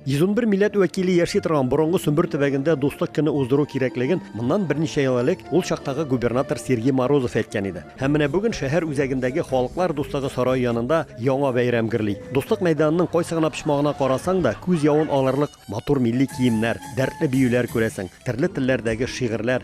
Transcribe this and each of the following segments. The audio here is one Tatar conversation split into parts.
111 милләт вәкиле яши торган борынгы Сөмбер төбәгендә дуслык көне уздыру кирәклеген моннан берничә ел элек ул чактагы губернатор Сергей Морозов әйткән иде. Һәм менә бүген шәһәр үзәгендәге Халыклар дуслыгы сарае янында яңа бәйрәм гөрли. Дуслык мәйданының кайсы гына почмагына карасаң да, күз явын алырлык матур милли киемнәр, дәртле биюләр күрәсең, төрле телләрдәге шигырьләр,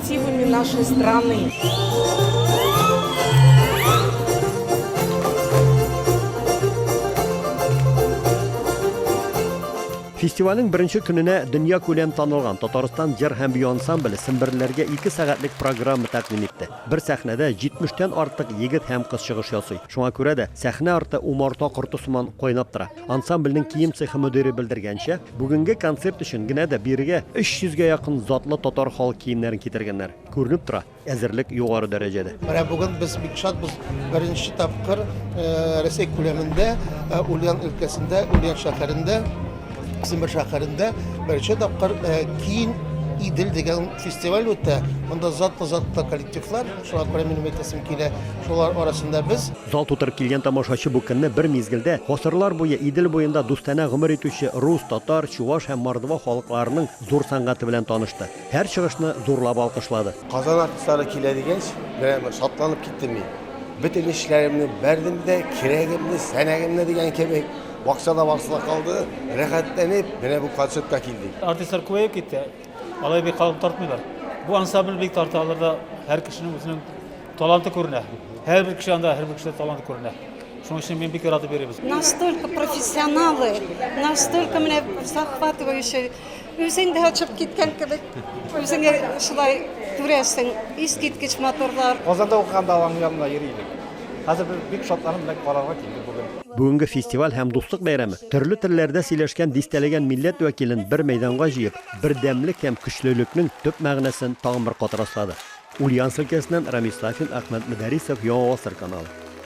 Активами нашей страны. Фестивальнең беренче көненә дөньякүләм танылган Татарстан җыр һәм бию ансамбле семберлеләргә ике сәгатьлек программа тәкъдим итте. Бер сәхнәдә 70 тән артык егет һәм кыз чыгыш ясый. Шуңа күрә дә сәхнә арты умарта корты сыман кайнап тора. Ансамбльнең кием цехы мөдире белдергәнчә, бүгенге концерт өчен генә дә бирегә 300 гә якын затлы татар халык киемнәрен китергәннәр. Күренеп тора, әзерлек югары дәрәҗәдә. Менә бүген без бик шатбыз. Беренче тапкыр Рәсәй күләмендә, Ульян өлкәсендә, Ульян шәһәрендә, Сембер шәһәрендә беренче тапкыр Киң Идел дигән фестиваль үтә. Монда затлы-затлы коллективлар Шуңа күрә минем әйтәсем килә, шулар арасында без. Зал тутырып килгән тамашачы бу көнне бер мизгелдә гасырлар буе Идел буенда дустанә гомер итүче рус, татар, чуваш һәм мордва халыкларының зур сәнгате белән танышты. Һәр чыгышны зурлап алкышлады. Казан артистлары килә дигәч, менә бер шатланып киттем мин. Бөтен эшләремне бәрдем дә, кирәгемне, сәнәгемне дигән кебек, бакчада барсы да калды, рәхәтләнеп, менә бу концертка килдек. Артистлар күбәеп китте. Алай бик калын тартмыйлар. Бу ансамбль бик тарта, аларда һәр кешенең үзенең таланты күренә. Һәрбер кеше анда, һәрбер кешедә талант күренә. Шуның өчен мин бик яратып йөрибез. Настолько профессионалы, настолько менә захватывающий. Үзең дә очып киткән кебек, үзеңә шулай күрәсең. Искиткеч моторлар. Казанда укыганда аның янына йөри идек. Хәзер без бик шатланып менә карарга килдек бүген. Бүгенге фестиваль һәм дуслык бәйрәме төрле телләрдә сөйләшкән дистәләгән милләт вәкилен бер мәйданга җыеп, бердәмлек һәм көчлелекнең төп мәгънәсен тагын бер кат раслады. Ульяновск өлкәсеннән Рамис Сафин, Әхмәт Мөдәрисов, Яңа гасыр каналы.